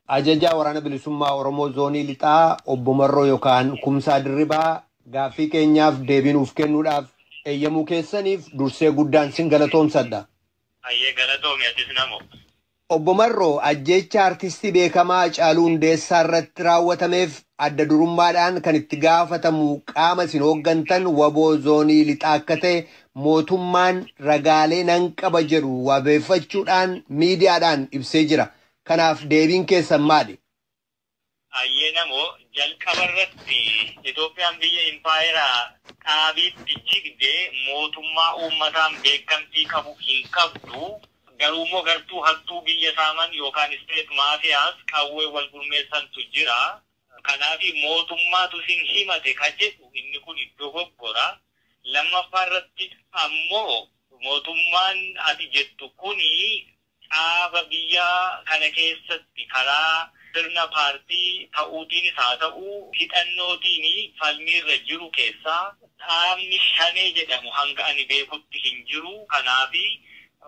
Ajajaa Waraana Bilisummaa Oromoo Zoonii Lixaa Obbo Marroo yookaan Kumsaa Dirribaa gaaffii keenyaaf deebii nuuf kennuudhaaf eeyyamuu keessaniif dursee guddaan sin galatoomsadha. Hayyee galatoomi atis namo. Obbo Marroo, ajjeechaa Artistii beekamaa Hacaaluu Hundeessaa irratti raawwatameef adda durummaadhaan kan itti gaafatamu qaama isin hooggantan wbo Zoonii Lixaa akka ta'e Mootummaan ragaalee nan qaba jedhu wabeeffachuudhaan miidiyaadhaan ibsee jira. Kanaaf deebiin keessan maali? Hayyee Namoo, jalqabarratti Itoophiyaan biyya impaayera dhaabiitti jigde mootummaa uummataan beekamtii qabu hin qabdu. Garuummoo gartuu hattuu biyya saaman yookaan state mafias qawween wal gurmeessantu jira. Kanaafi mootummaatu isin himate ka jedhu inni kun dogoggora. Lammaffaa irratti ammoo mootummaan ati jettu kun caaba biyya kana keessatti karaa sirna paartii ta'uutiinis haa ta'u hidhannootiin falmiirra jiru keessaa dhaabni Shanee jedhamu hanga ani beekutti hin jiru. Kanaafi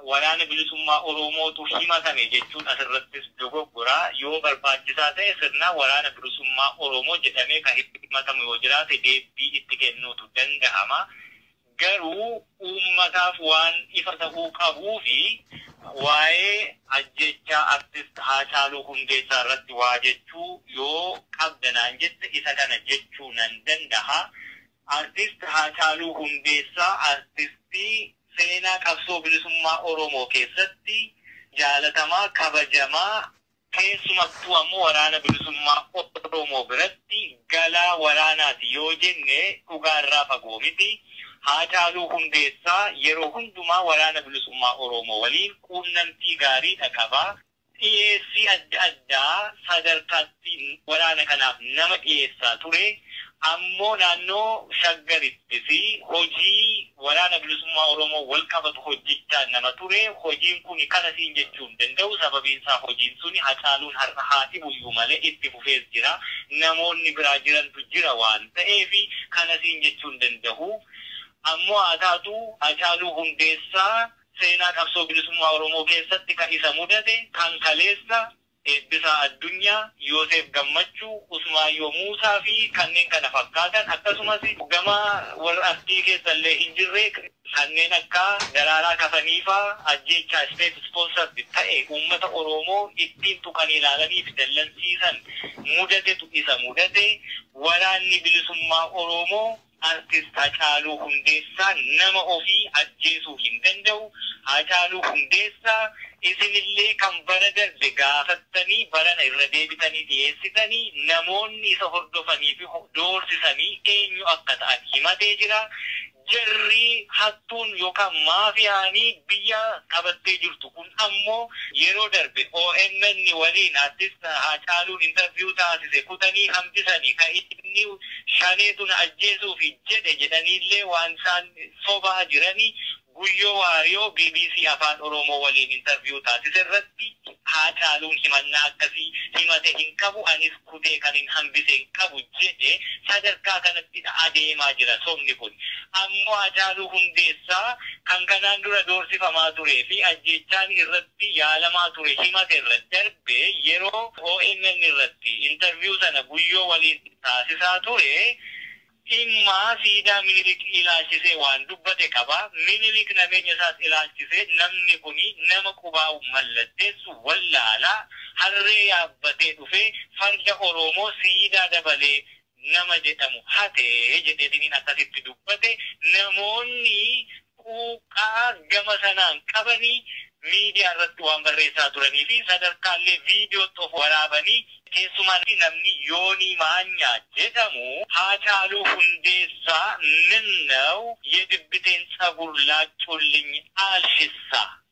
Waraana Bilisummaa Oromootu himatame jechuun asirrattis dogoggora. Yoo barbaachisaa ta'e sirnaan Waraana Bilisummaa Oromoo jedhamee kan himatamu yoo jiraate deebbii itti kennuutu danda'ama. Garuu uummataaf waan ifa ta'uu qabuufi waa'ee ajjeechaa Artist Haacaaluu Hundeessaa irratti waa jechuu yoo qabda naan jette isa kana jechuu nan danda'a. Artist Haacaaluu Hundeessaa artistii seenaa qabsoo bilisummaa Oromoo keessatti jaalatamaa, kabajamaa, keessumattuu ammoo Waraana Bilisummaa Oromoo biratti galaa waraanaati yoo jenne dhugaa irraa fagoo miti. Haacaaluu Hundeessaa yeroo hundumaa Waraana Bilisummaa Oromoo waliin quunnamtii gaariidha qaba. Dhiyeessii adda addaa sadarkaa itti waraana kanaaf nama dhiyeessaa ture ammoo naannoo Shaggaritti fi hojii Waraana Bilisummaa Oromoo walqabatu hojjechaa nama ture. Hojiin kuni kana siin jechuu hin danda'u. Sababiin isaa hojiin suni Hacaaluun har'a haa dhibuyyuu malee itti fufees jira. Namoonni biraa jirantu jira waan ta'eef kana siin jechuu hin danda'u. Ammoo haa taatu Hacaaluu Hundeessaa Seenaa qabsoo bilisummaa Oromoo keessatti kan isa mudate kan kaleessa Eebbisaa Addunyaa, Yooseef Gammachuu, Usmaayyoo Muusaa fi kanneen kana fakkaatan akkasumas gama warra artii keessa illee hin jirre kanneen akka Daraaraa Kafanii faa ajjeechaa state sponsored ta'e uummata Oroomoo ittiin tuqanii ilaalanii fi dallansiisan mudatetu isa mudate. Waraanni Bilisummaa Oroomoo Artist Hacaaluu Hundeessaa nama ofii ajjeesuu hin danda'u, Haacaaluu Hundeessaa isinillee kan bara darbe gaafattanii barana irra deebitanii dhiyeessitanii namoonni isa hordofanii fi doorsisanii eenyu akka ta'an himatee jira. Jarri hattuun yookaan maafiyaan biyya qabattee jirtu kun ammoo yeroo darbe omn waliin Artist Haacaaluun interview taasise kutanii hambisanii ka inni shaneetu na ajjeesuufi jedhe jedhaniillee waan isaan sobaa jirani Guyyoo Waariyoo bbc Afaan Oromoo waliin interview taasise irratti Haacaaluun himannaa akkasii himate hin qabu anis kutee kanin hambise hin qabu jedhe sadarkaa kanattidha adeemaa jira sobni kun ammoo Haacaaluu Hundeessaa kan kanaan dura doorsifamaa turee fi ajjeechaan irratti yaalamaa ture himate irra darbee yeroo omn irratti interview sana Guyyoo waliin taasisaa ture, dhimma siidaa Minilik ilaalchisee waan dubbate qaba. Minilik nabeenya isaas ilaalchisee namni kun nama qubaa'u mallatteessu wallaala, harree yaabbatee dhufee farda Oroomoo siidaa dabalee nama jedhamu hate jedheetiniin akkasitti dubbate. Namoonni quuqqaa gama sanaan qabanii miidiyaa irratti waan barreessaa turanii fi sadarkaa illee viidiyootti of waraabanii keessumaa namni Yoonii Maanyaa jedhamu Haacaaluu Hundeessaa Minnew yedibbiteen tsagur laaccuullinyi aalshissa?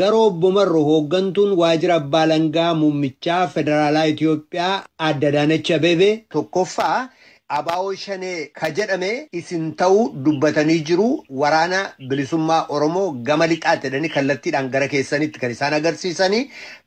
Garuu Obbo Marro hooggantuun Waajjira Abbaa Alangaa Muummichaa Federaalaa Itiyoophiyaa Aadde Adaanach Abeebee, 1ffaa Abaawoo Shanee ka jedhame isin ta'uu dubbatanii jiru Waraana Bilisummaa Oromoo gama Lixaati jedhanii kallattiidhaan gara keessanitti kan isaan agarsiisani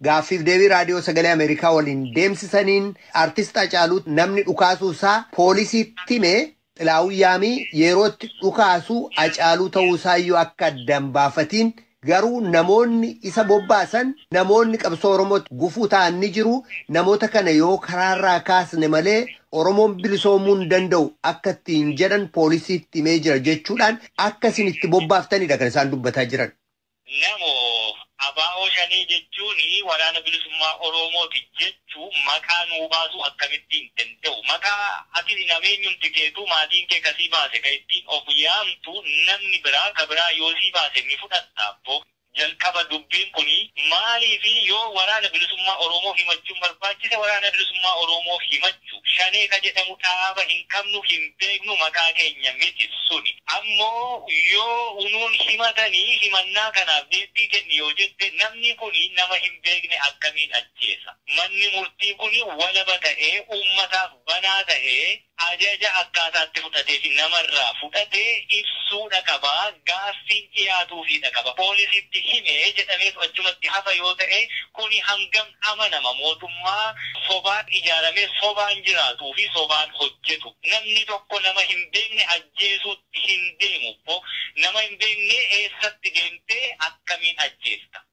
Gaaffiif deebii Raadiyoo Sagalee Ameerikaa waliin deemsisaniin Artist Hacaaluu namni dhukaasuu isaa poolisiitti hime Xilaahun Yaamii yeroo itti dhukaasu Hacaaluu ta'uu isaayyuu akka adda hin baafatiin garuu namoonni isa bobbaasan namoonni qabsoo Oromootti gufuu ta'an ni jiru, namoota kana yoo karaarraa kaasne malee Oromoon bilisoomuu hin danda'u akka ittiin jedhan poolisiitti himee jira jechuudhaan akka isin itti bobbaaftanidha kan isaan dubbataa jiran. Namo, Abo Shanee jechuun Waraana Bilisummaa Oromooti jechuun maqaa nuu baasuu akkamitti hin danda'u? Maqaa ati nameenyumti keetuu maatiin kee ka sii baase ka ittiin of yaamtu namni biraa ka biraa yoo sii baase ni fudhatta? Abbo. Jalqaba dubbiin kuni maaliifi yoo Waraana Bilisummaa Oromoof himachuun barbaachise Waraana Bilisummaa Oromoof himachuu. jiraachuu. Shanee ka jedhamu dhaaba hin qabnu hin beeknu maqaa keenya miti suni. Ammoo yoo unuun himatani himannaa kanaaf deebbii kenni yoo jette namni kuni nama hin beekne akkamiin ajjeesa? Manni murtii kuni walaba ta'ee uummataaf banaa ta'ee ajaja akkaataa itti fudhatee fi nama irraa fudhate ibsuudha qaba, gaaffiin dhiyaatuufiidha qaba. Poolisiitti hime jedhameetu achumatti hafa yoo ta'e kuni hangam. amanama mootummaa sobaan ijaaramee sobaan jiraatuu fi sobaan hojjetu namni tokko nama hin beekne ajjeesuutti hin deemu bbo nama hin beekne eessatti deemtee akkamiin ajjeesta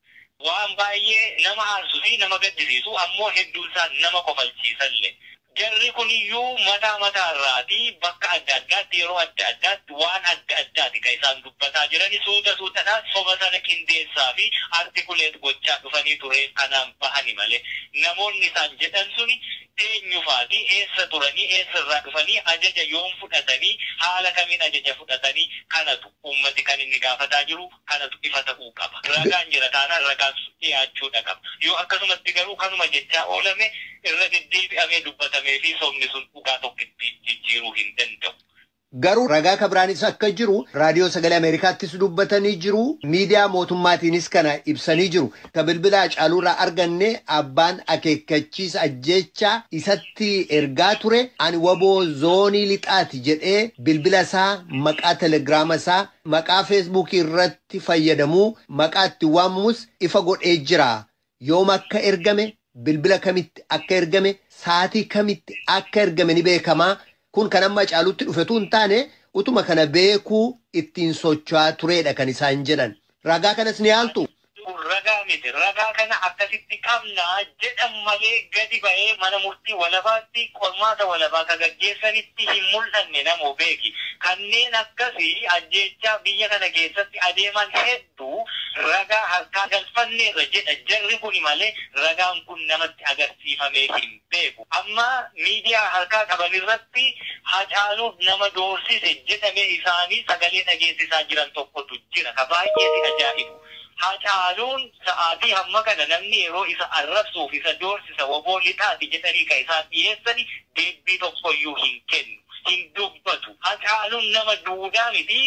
waan baay'ee nama aarsu fi nama gaddisiisu ammoo hedduun isaa nama kofalchiisalle Jarri kun iyyuu mataa mataa irraati bakka adda addaatti yeroo adda addaatti waan adda addaati kan isaan dubbataa jirani suuta suutadhaan soba sana qindeessaa fi articulate gochaa dhufanii tureef kanaan bahani malee namoonni isaan jedhan suni eenyu faati eessa turanii eessa irraa dhufanii ajaja yoom fudhatanii haala kamiin ajaja fudhatani kanatu uummati kan inni gaafataa jiru kanatu ifa ta'uu qaba. Ragaan jira taanaan ragaan sun dhiyaachuudha qaba. Yoo akkanumatti garuu kanuma jechaa oolame irra deddeebi'amee dubbatamee fi sobni sun dhugaa tokkitti jijjiiruu hin danda'u. Garuu ragaa ka biraanis akka jiru Raadiyoo Sagalee Ameerikaattis dubbatanii jiru, miidiyaa mootummaatiinis kana ibsanii jiru. Ka bilbila Hacaaluurraa arganne abbaan akeekkachiisa ajjeechaa isatti ergaa ture ani wbo zoonii lixaati jedhee bilbila isaa maqaa telegiraama isaa Maqaa Feesbuukii irratti fayyadamuu maqaa ittiin waamamus ifa godhee jira. Yoom akka ergame, bilbila kamitti akka ergame, saatii kamitti akka ergame ni beekama. Kun kan amma Hacaaluutti dhufe utuu hin taane utuma kana beekuu ittiin socho'aa tureedha kan isaan jedhan. Ragaa kanas ni haaltuu? Kun ragaa miti, ragaa kana akkasitti qabna jedhan malee gadi ba'ee mana murtii walabaatti qormaata walabaa akka gaggeessanitti hin mul'anne namoo beeki. Kanneen akkasi ajjeechaa biyya kana keessatti adeeman heddu ragaa harkaa galfanneerra jedha jarri kuni malee ragaan kun namatti agarsiifamee hin. beeku. Amma miidiyaa harkaa qaban irratti Hacaaluuf nama doorsise jedhame isaanii sagalee dhageessisaa jiran tokkotu jira. Ka baay'ee si ajaa'ibu, Hacaaluun sa'aatii hamma kana namni yeroo isa arrabsuu fi isa doorsisa wbo lixaati jedhanii ka isaan dhiyeessani deebbii tokkoyyuu hin kennu. Hin dubbatu. Hacaaluun nama duudaa miti,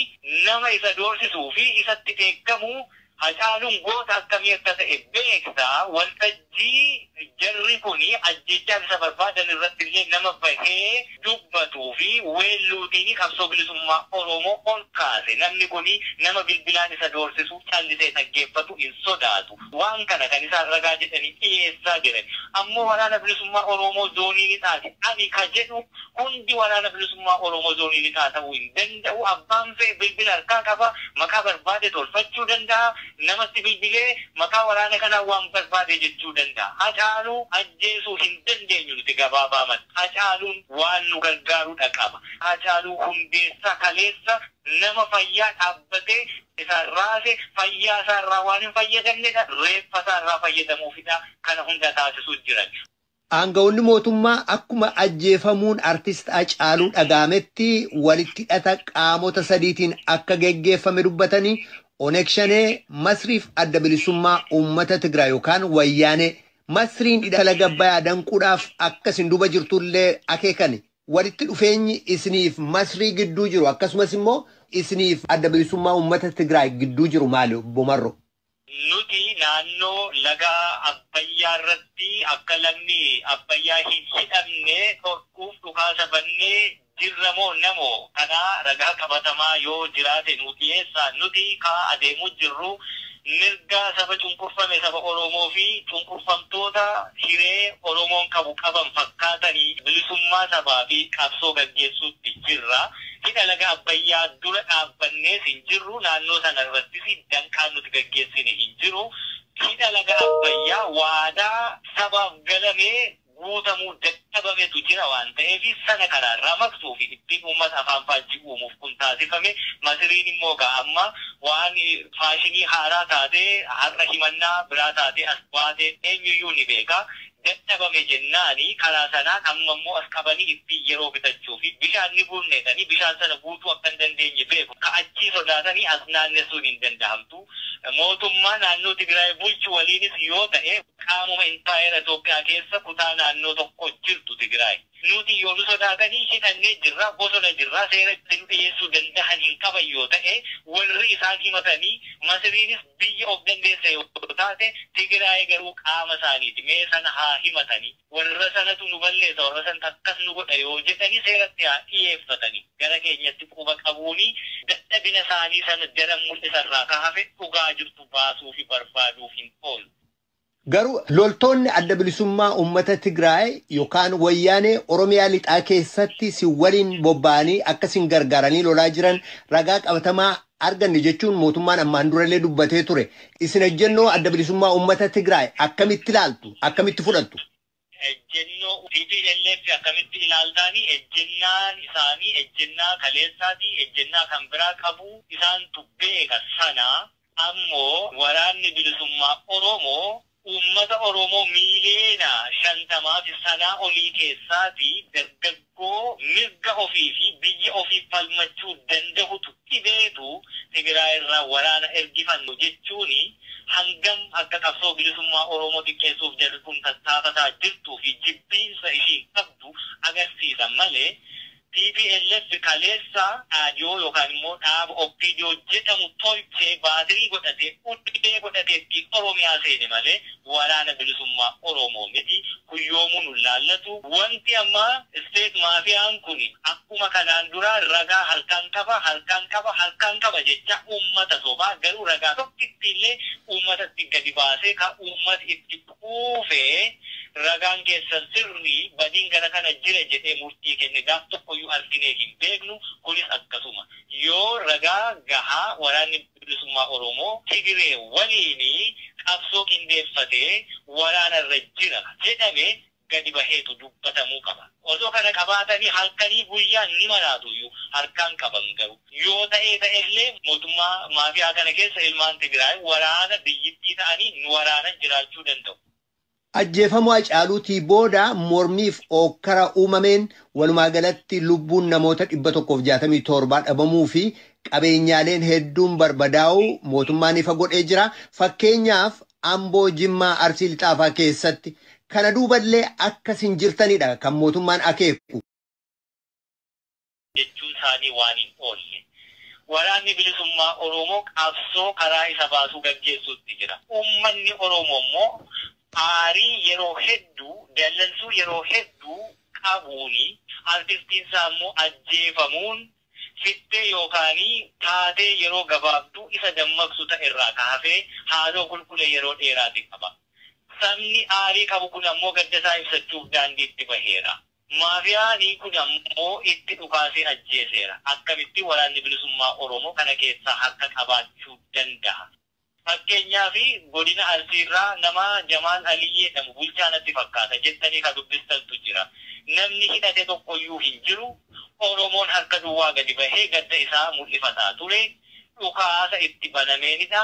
nama isa doorsisuu fi isatti dheekkamu Hacaaluun goota akkamii akka ta'e beekta, waltajjii jarri kun ajjeechaa isa barbaadan irratti illee nama bahee dubbatuu fi weelluutiin qabsoo bilisummaa Oromoo ol kaase. Namni kun nama bilbilaan isa doorsisu callisee dhaggeeffatu hin sodaatu. Waan kana kan isaan ragaa jedhanii dhiyeessaa jiran ammoo Waraana Bilisummaa Oromoo Zoonii Lixaati. Ani ka jedhu Hundi Waraana Bilisummaa Oromoo Zoonii Lixaa ta'uu hin danda'u. Abbaan fe'e bilbila harkaa qaba. Maqaa barbaade tolfachuu danda'a. Namatti bilbilee maqaa waraana kanaa waan barbaade jechuu danda'a. Hacaaluu ajjeesuu hin dandeenyu nuti gabaabaamatti. Hacaaluun waan nu gargaaru dha qaba. Hacaaluu Hundeessaa kaleessa nama fayyaa dhaabbatee isaan raase, fayyaa isaa irraa waan hin fayyadamne dha. Reeffa isaa irraa fayyadamuuf dha kana hunda taasisuu jiran. Aanga'oonni mootummaa akkuma ajjeefamuun Artist Hacaaluu dhaga'ametti walitti hidhata qaamota sadiitiin akka geggeeffame dubbatanii, Oneg Shanee, Masriif Adda Bilisummaa Uummata Tigraay yookaan Wayyaanee, Masriin hidha laga Abbayaa danquudhaaf akka isin duuba jirtu illee akeekani. Walitti dhufeenyi isiniif Masrii gidduu jiru akkasumas immoo isiniif Adda Bilisummaa Uummata Tigraay gidduu jiru maali Obbo Marroo? Nuti naannoo laga Abbayyaarratti akka lagni Abbayyaa hin hidhamne dhorkuuf dhukaasa bannee jirra moo namo? Kanaa ragaa qabatamaa yoo jiraate nuu dhiyeessaa. Nuti kaa adeemuu jirru mirga saba cunqurfame saba Oromoo fi cunqurfamtoota hiree Oromoon qabu qaban fakkaatanii bilisummaa sabaa fi qabsoo gaggeessuutti jirra. Hidha laga Abbayyaa dura dhaabbannees hin jirru, naannoo sana irrattis danqaan nuti gaggeessine hin jiru. Hidha laga Abbayyaa waadaa sabaaf galame guutamuu dadhabametu jira waan ta'eef sana kana ramaqsuu fi ittiin uummata afaan faajjii uumuuf kun taasifame. Masiriin immoo egaa amma waan faashinii haaraa taatee har'a himannaa biraa taatee as baate eenyuyyuu ni beeka. dadhabame jennaani karaa sanaan amma immoo as qabanii ittiin yeroo bitachuu fi bishaan ni guurna jedhanii bishaan sana guutuu akka hin dandeenye beeku ka achii sodaatanii as naannessuun hin dandahamtu mootummaa naannoo Tigiraay bulchu waliinis yoo ta'e qaamuma impaayera Itoophiyaa keessa kutaa naannoo tokko jirtu Tigiraay. Nuti yoo nu sodaatanii hidhannee jirra, bosona jirra, seera itti nu dhiheessuu dandahan hin qaban yoo ta'e, warri isaan himatanii, Masiriinis biyya of dandeesse yoo taate, Tigiraayi garuu qaama isaaniiti, mee sana haa himatani, warra sanatu nu balleessa, warra santu akkas nu godha yoo jedhani seeratti haa dhiheeffatani, gara keenyatti quba qabuuni dadhabina isaanii sana daran mul'isa irraa ka hafe dhugaa jirtu baasuufi barbaaduuf hin oolu. Garuu loltoonni Adda Bilisummaa Uummata Tigraay yookaan Wayyaanee Oromiyaa Lixaa keessatti sin waliin bobba'anii akka sin gargaaranii lolaa jiran ragaa qabatamaa arganne jechuun mootummaan ammaan durallee dubbatee ture. Isin ejjennoo Adda Bilisummaa Uummata Tigraay akkamitti ilaaltu? Akkamitti fudhattu? Ejjennoo tplf akkamitti ilaaltaani? Ejjennaan isaanii ejjennaa kaleessaati, ejjennaa kan biraa qabu. Isaantu beeka sana. Ammoo Waraanni Bilisummaa Oromoo uummata Oromoo miiliyoona 50 fi sanaa olii keessaati dargaggoota. Wbo mirga ofii fi biyya ofiif falmachuu dandahutu dhibeetu Tigiraay irraa waraana ergifannu jechuun hangam akka qabsoo bilisummaa Oromoo xiqqeessuuf jarri kun tattaafataa jirtuu fi jibbiinsa ishiin qabdu agarsiisa malee tplf kaleessa dhaadiyoo yookaan immoo dhaaba opdo jedhamu tolchee baatirii godhatee ulee godhatee ittiin Oromiyaa seene malee Waraana bilisummaa Oromoo miti kun yoomuu nun laallatu wanti amma state maafiyaan kun akkuma kanaan duraa ragaa harkaan qaba harkaan qaba harkaan qaba jechaa uummata sobaa garuu ragaa tokkittii illee uummatatti gadi baasee ka uummati itti quufee ragaan keessan sirrii badiin gara kana jira jedhee murtii kenne gaaf tokkoyyuu arginee hin beeknu kunis akkasuma yoo ragaa gahaa waraanni Bilisummaa Oromoo Tigiree waliin qabsoo qindeeffatee waraana irra jira jedhame gadi baheetu dubbatamuu qaba. Osoo kana qabaatanii halkanii guyyaan ni maraatuyyuu harkaan qaban garuu. Yoo ta'ee ta'ellee mootummaa maafiyaa kana keessa ilmaan Tigiraay waraana biyyittii ta'anii nu waraanan jiraachuu danda'u. Ajjeefamuu Hacaaluutii booda mormiif ookkara uumameen walumaa galatti lubbuun namoota 167 dhabamuu fi qabeenyaaleen hedduun barbadaa'uu mootummaan ifa godhee jira. Fakkeenyaaf Amboo, Jimmaa, Arsii Lixaa faa keessatti. Kana duuballee akkas hin jirtanidha kan mootummaan akeeku. jechuun isaanii waan hin oolle. Waraanni Bilisummaa Oroomoo qabsoo karaa isa baasuu gaggeessuutti jira. Uummanni Oroomoo immoo aarii yeroo hedduu, dallansuu yeroo hedduu qabuun artistiin isaa immoo ajjeefamuun fittee yookaan taatee yeroo gabaabduu isa dammaqsu ta'e irraa ka hafe haaloo kulkule yeroo dheeraati qaba. Sabni aarii qabu kun ammoo gadda isaa ibsachuuf daandiitti baheera. Maafiyaanii kun ammoo itti dhukaasee ajjeeseera. Akkamitti Waraanni Bilisummaa Oromoo kana keessaa harka qabaachuu danda'a? Fakkeenyaaf Godina Arsiirraa nama Jamaal Alii jedhamu bulchaa natti fakkaata jettanii ka dubbistantu jira. Namni hidhate tokkoyyuu hin jiru. Oromoon harka duwwaa gadi bahee gadda isaa mul'ifataa ture. Dhukaasa itti banameenidha.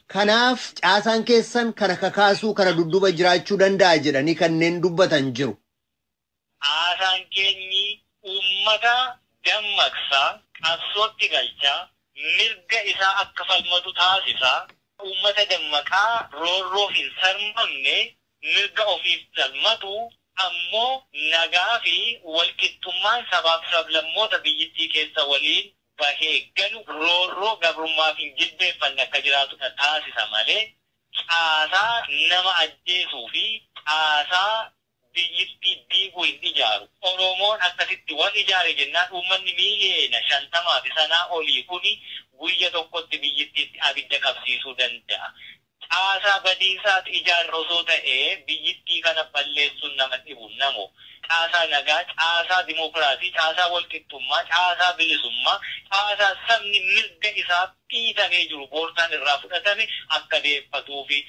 Kanaaf caasaan keessan kana kakaasuu kana dudduba jiraachuu danda'a jedhanii kanneen dubbatan jiru. Caasaan keenyi uummata dammaqsa, qabsootti galcha, mirga isaa akka falmatu taasisa, uummata dammaqaa roorroof hin sarmamne, mirga ofiif falmatu, ammoo nagaa fi walqixxummaan sabaaf sablammoota biyyittii keessa waliin bahee galu roorroo gabrummaa fi jilbeeffanni akka jiraatu dha taasisa malee caasaa nama ajjeesuu fi caasaa biyyittii diigu hin ijaaru. Oromoon akkasitti wal ijaare jennaan uummanni miiliyeena 50 fi sanaa olii kuni guyya tokkotti biyyittiitti abidda qabsiisuu danda'a. Caasaa badiisaatu ijaarra osoo ta'ee biyyittii kana balleessuun nama dhibu namo. Caasaa nagaa, caasaa dimookiraasii, caasaa walqixxummaa, caasaa bilisummaa, caasaa sabni mirga isaaf dhiitamee jiru boortaan irraa fudhatame akka deeffatuufi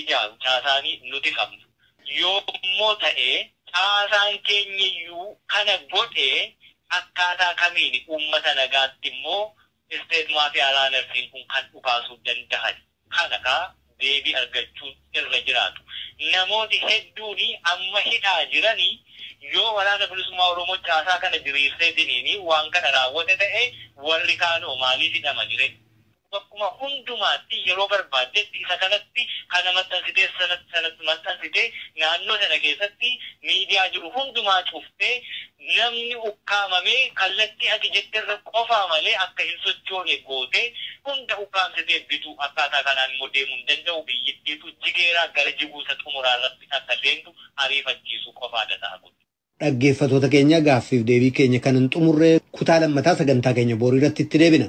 ijaaru caasaani nuti qabnu. Yoommoo ta'ee caasaan keenyayyuu kana godhee akkaataa kamiini uummata nagaatti immoo state mafia runners-n kun kan dhukaasuu dandahani? kana kaa deebii argachuun irra jiraatu. Namooti hedduuni amma hidhaa jirani yoo Waraana Bilisummaa Oromoo caasaa kana diriirseetiniini waan kana raawwate ta'e warri kaanoo maaliif hidhamani ree? Bakkuma hundumaatti yeroo barbaaddetti isa kanatti kana maxxansitee sana maxxansitee naannoo sana keessatti miidiyaa jiru hundumaa cuftee Namni ukkaamamee kallattii ati jetterra qofaa malee akka hin sochoone gootee hunda ukkaamsitee bituu akkaataa kanaan immoo deemuu hin danda'u biyyittiitu jigeeraa gara jiguu isa xumuraa irrattis akka seentu ariifachiisuu qofaadha ta'a kun. Dhaggeeffatoota keenya gaaffiif deebii keenya kan hin xumurre kutaa lammataa sagantaa keenya booriiratti itti deebina.